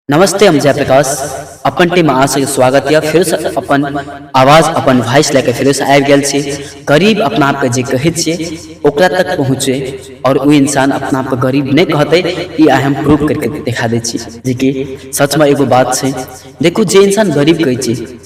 नमस्ते हम जयप्रकाश अपन टीम अहाँ सबके स्वागत यऽ फिर से अपन आवाज अपन वॉइस लेके फिर से आबि गेल छी गरीब अपना आपके जे कहै छियै ओकरा तक पहुँचे और ओ इंसान अपना आपके गरीब नहि कहतै ई आइ हम प्रूफ करके देखा दै छी जेकि सचमे एगो बात छै देखू जे इंसान गरीब कहै छै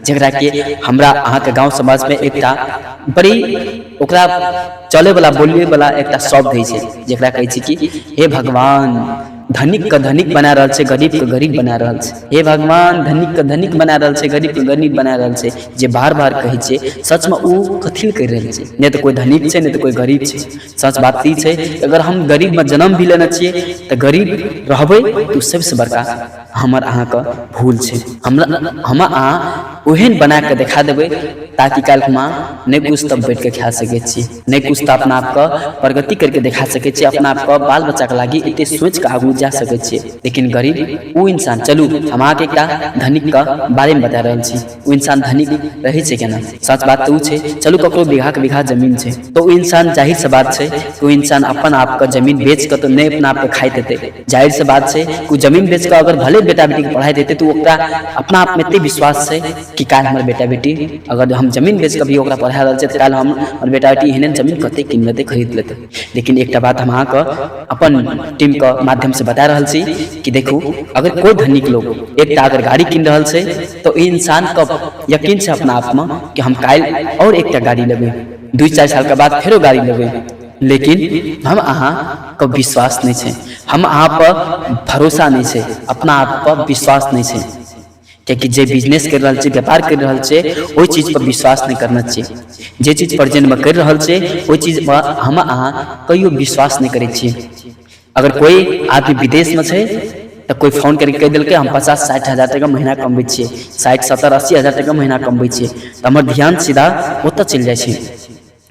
जकरा कि हमरा अहाँके गाँव समाजमे एकटा बड़ी ओकरा चलैवला बोलैवला एकटा शब्द होइ छै जकरा कहै छै कि हे भगवान धनिकके धनिक बना रहल छै गरीबके गरीब बना रहल छै हे भगवान धनिकके धनिक बना रहल छै गरीबके गरीब बना रहल छै जे बार बार कहै छै सचमे ओ कथी कहि रहल छै नहि तऽ कोइ धनिक छै नहि तऽ कोइ गरीब छै सच बात ई छै अगर हम गरीबमे जन्म भी लेने छियै तऽ गरीब रहबै तऽ ओ सभसँ बड़का हमर अहाँके भूल छै हमरा हम अहाँ ओहन बना कऽ देखा देबै ताकि काल्हि हम नहि किछु तब बैठ कऽ खा सकै छी नहि किछु तऽ अपना आपके प्रगति करिके देखा सकै छी अपना आपके बाल बच्चाके लागि एतेक सोचि कऽ आगू जा सकै छियै लेकिन गरीब ओ इंसान चलू हम अहाँके एकटा धनिकके बारेमे बता रहल छी ओ इंसान धनिक रहै छै केना सच बात तऽ ओ छै चलू ककरो बीघाके बीघा जमीन छै तऽ ओ इंसान जाहिर से बात छै कि ओ इंसान अपन आपके जमीन बेच कऽ तऽ नहि अपना आपके खाइत हेतै जाहिर से बात छै कि ओ जमीन बेच कऽ अगर भले बेटा बेटीके पढ़ाइ देतै तऽ ओकरा अपना आपमे एतेक विश्वास छै कि काल्हि हमर बेटा बेटी अगर हम जमीन बेच कऽ भी ओकरा पढ़ा रहल छियै तऽ काल्हि हम हमर बेटा बेटी एहने जमीन कतेक कीन लेतै खरीद लेतै लेकिन एकटा बात हम अहाँके अपन टीमके माध्यमसँ बता रहल छी कि देखू अगर कोइ धनिक लोक एकटा अगर गाड़ी कीन रहल छै तऽ ई इन्सानके यकीन छै अपना आपमे कि हम काल्हि आओर एकटा गाड़ी लेबै दुइ चारि सालके बाद फेरो गाड़ी लेबै लेकिन हम अहाँके विश्वास नहि छै हम अहाँपर भरोसा नहि छै अपना आपपर विश्वास नहि छै कियाकि जे बिजनेस करि रहल छै व्यापार करि रहल छै ओहि चीज पर विश्वास नहि करना चाहिए जे चीज प्रेजेंटमे करि रहल छै ओहि चीज पर हम अहाँ कहियो विश्वास नहि करै छियै अगर कोई आदमी विदेशमे छै तऽ कोई फोन करके कहि देलकै हम पचास साठि हजार टाका महीना कमबै छियै साठि सत्तर अस्सी हजार टाका महीना कमबै छियै तऽ हमर ध्यान सीधा ओतऽ चलि जाइ छै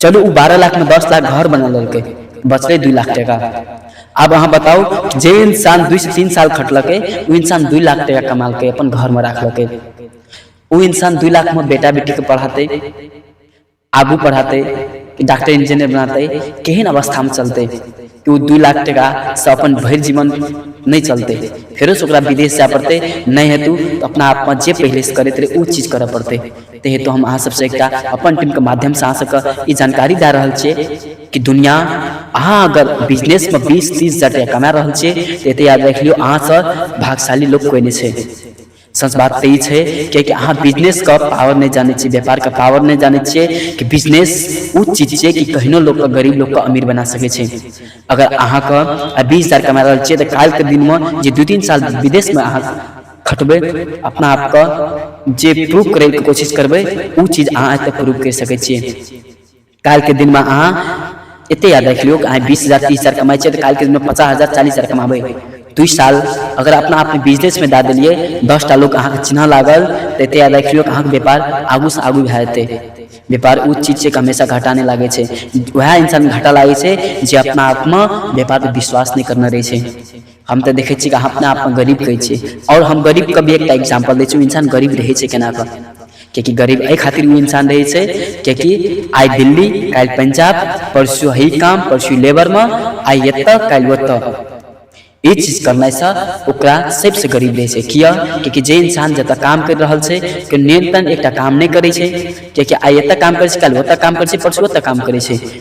चलू ओ बारह लाख में दस लाख घर बना ललके बचले दू लाख टका आब अहाँ बताउ जे इंसान दू से तीन साल खटलकै ओ इंसान दू लाख टका कमालकै अपन घर में राखलकै ओ इंसान दू लाख में बेटा बेटी के पढ़ाते आगू पढ़ाते डॉक्टर इंजीनियर बनाते केहन अवस्था में चलते कि ओ दू लाख टका से अपन भरि जीवन नहीं चलते फेरो से ओकरा विदेश जाय पड़ते नहीं हेतु तो अपना आप में जे पहले से करते रहे ओ चीज करऽ पड़ते ते हेतु हम अहाँ सबसे एकटा अपन टीम के माध्यम से अहाँ सबके ई जानकारी दे रहल छे कि दुनिया अहाँ अगर बिजनेस में बीस तीस हजार टका कमा रहल छे ते एते याद रख लियो अहाँ से भागशाली लोग कोई नहीं छे सच बात तो ये है कि अहाँ बिजनेस का पावर नहीं जाने छे व्यापार का पावर नहीं जाने छे कि बिजनेस वो चीज है कि कहनो लोग का गरीब लोग का अमीर बना सके छे अगर अहाँ का बीस हजार कमा रहा छे तो काल के दिन में जो दो तीन साल विदेश में अहाँ खटबै अपना आपके जे प्रूफ करैके कोशिश करबै ओ चीज अहाँ एतऽ प्रूफ करि सकै छियै काल्हिके दिनमे अहाँ एतेक याद राखि लियौ अहाँ बीस हजार तीस हजार कमाइ छियै तऽ काल्हिके दिनमे पचास हजार चालीस हजार कमाबै दुइ साल अगर अपना आपके बिजनेसमे दए देलियै दस टा लोक अहाँके चिन्ह लागल तऽ एतेक याद राखि लियौ अहाँके व्यापार आगूसँ आगू भए जेतै व्यापार ओ चीज छै कि हमेशा घाटा नहि लागै छै उएह इंसान घाटा लागै छै जे अपना आपमे व्यापारपर विश्वास नहि करने रहै छै हम तऽ देखै छियै कि अहाँ अपना आपमे गरीब कहै छियै आओर हम गरीबके भी एकटा एग्जाम्पल दै छी ओ इंसान गरीब रहै छै केना कऽ किएकि गरीब एहि खातिर ओ इंसान रहै छै किएकि आइ दिल्ली काल्हि पंजाब परसू ही काम परसू लेबरमे आइ एतऽ काल्हि ओतऽ ई चीज करनाइसँ ओकरा सबसँ गरीब रहै छै किया किएकि जे इंसान जतऽ काम करि रहल छै कि न्यूनतम एकटा काम नहि करै छै किएकि आइ एतऽ काम करै छै काल्हि ओतऽ काम करै छै परसू ओतऽ काम करै छै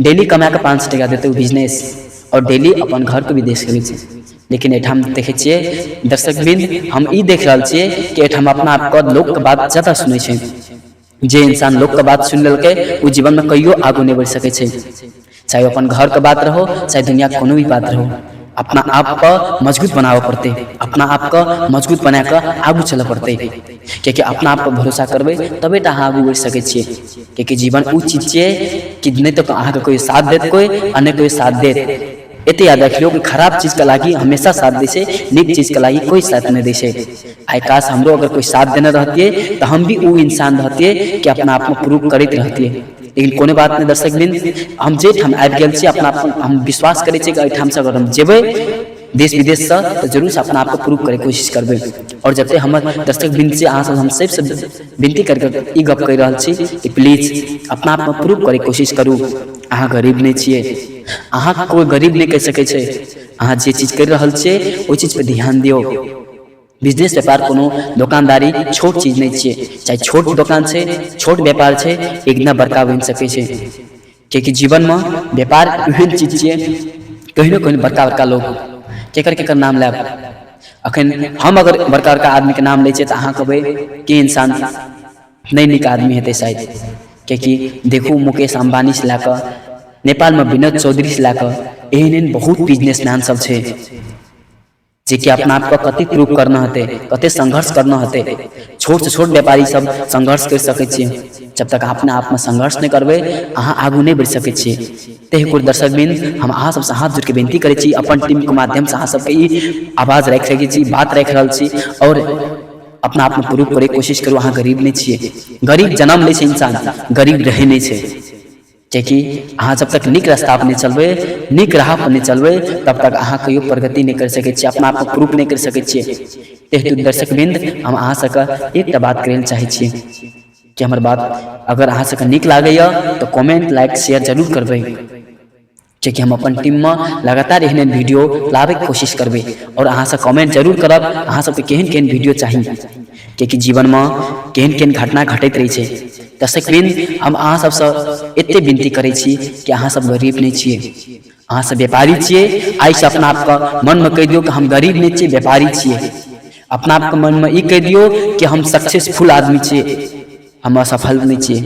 डेली कमाए कऽ पाँच सए टका देतै ओ बिजनेस आओर डेली अपन घरके भी देख सकै छै लेकिन एहिठाम देखै छियै दर्शकबिन हम ई देख रहल छियै कि एहिठाम अपना आपके लोकके बात ज्यादा सुनै छै जे इंसान लोकके बात सुनि लेलकै ओ जीवनमे कहियो आगू नहि बढ़ि सकै छै चाहे ओ अपन घरके बात रहो चाहे दुनियाके कोनो भी बात रहो अपना आपके मजबूत बनाबऽ पड़तै अपना आपके मजबूत बनाकऽ आगू चलऽ पड़तै किएकि अपना आपके भरोसा करबै तबे टा अहाँ आगू बढ़ि सकै छियै किएकि जीवन ओ चीज छियै कि नहि तऽ अहाँके कोइ साथ देत कोइ आ नहि कोइ साथ देत एते याद राखि लियौ कि खराब चीजके लागी हमेशा साथ दै छै नीक चीजके लागी कोइ साथ नहि दै छै आइ काश हमरो अगर कोइ साथ देने रहतियै तऽ हम भी ओ इंसान रहतियै कि अपना आपमे प्रूफ करैत रहतियै लेकिन कोनो बात नहि दर्शक बिंद हम जाहिठाम आबि गेल छी अपना हम विश्वास करै छियै कि एहिठामसँ अगर हम जेबै देश विदेश से तो जरूर से अपना आपको प्रूव करे कोशिश करबे और जब हमर दर्शक बिंद से अहाँ सब हम सब से विनती करके ई गप कह रहा छी कि प्लीज अपना आप में प्रूव करे कोशिश करू अहाँ गरीब नहीं छे अहाँ कोई गरीब नहीं कह सके छे अहाँ जे चीज कर रहा छे वो चीज पे ध्यान दियो बिजनेस व्यापार को दुकानदारी छोट चीज नहीं छे चाहे छोट दुकान से छोट व्यापार से एक दिन बड़का बन सके छे किएकि जीवनमे व्यापार एहन चीज छियै कहीं ने कहीं बड़का बड़का लोग केकर केकर नाम लायब अखन हम अगर बड़का बड़का आदमीके नाम लै छियै तऽ अहाँ कहबै कि इंसान नहि नीक आदमी हेतै शायद किएकि देखू मुकेश अम्बानीसँ लए कऽ नेपालमे विनोद चौधरीसँ लए कऽ एहन एहन बहुत बिजनेसमैन सब छै जे कि अपना आपके कते प्रूव करना हेतै कते संघर्ष करना हेतै छोटसँ छोट व्यापारी सब संघर्ष करि सकै छी जब तक अपना आपमे संघर्ष नहि करबै अहाँ आगू नहि बढ़ि सकै छी तहि कुल दर्शकबिन हम अहाँ सबसँ हाथ जोड़िके विनती करै छी अपन टीमके माध्यमसँ अहाँ सबके ई आवाज राखि सकै छी बात राखि रहल छी आओर अपना आपमे प्रूव करैके कोशिश करू अहाँ गरीब नहि छियै गरीब जन्म लै छै इंसान गरीब रहै नहि छै किएकि अहाँ जब तक नीक रास्ता पर नहि चलबै नीक राह पर नहि चलबै तब तक अहाँ कहियो प्रगति नहि करि सकैत छियै अपना आपके प्रूफ नहि करि सकैत छियै एहि दर्शक बिंद हम अहाँ सबके एकटा बात करै लए चाहै छियै कि हमर बात अगर अहाँ सबके नीक लागैए तऽ कमेंट लाइक शेयर जरूर करबै किएकि हम अपन टीममे लगातार एहन एहन वीडियो लाबैके कोशिश करबै आओर अहाँसँ कमेंट जरूर करब अहाँ सबके केहन केहन वीडियो चाही किएकि जीवनमे केहन केहन घटना घटैत रहै छै दर्शक बिन हम अहाँ सबसँ एते विनती करै छी कि अहाँ सब गरीब नहि छियै अहाँ सब व्यापारी छियै आइसँ अपना आपके मनमे कहि दियौ कि हम गरीब नहि छियै व्यापारी छियै अपना आपके मनमे ई कहि दियौ कि हम सक्सेसफुल आदमी छियै हम असफल नहि छियै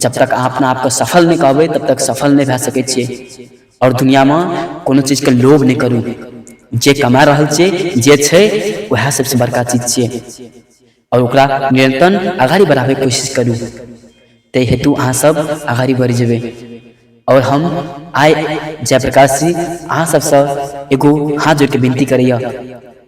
जब तक अहाँ अपना आपके सफल नहि कहबै तब तक सफल नहि भए सकै छियै आओर दुनियामे कोनो चीजके लोभ नहि करू जे कमा रहल छियै जे छै उएह सबसँ बड़का चीज छियै आओर ओकरा निरंतर अगाडि बढ़ाबैके कोशिश करू ताहि हेतु अहाँ सब अगाडि बढ़ि जेबै आओर हम आइ जयप्रकाश जी अहाँ सबसँ एगो हाथ जोड़िके विनती करैया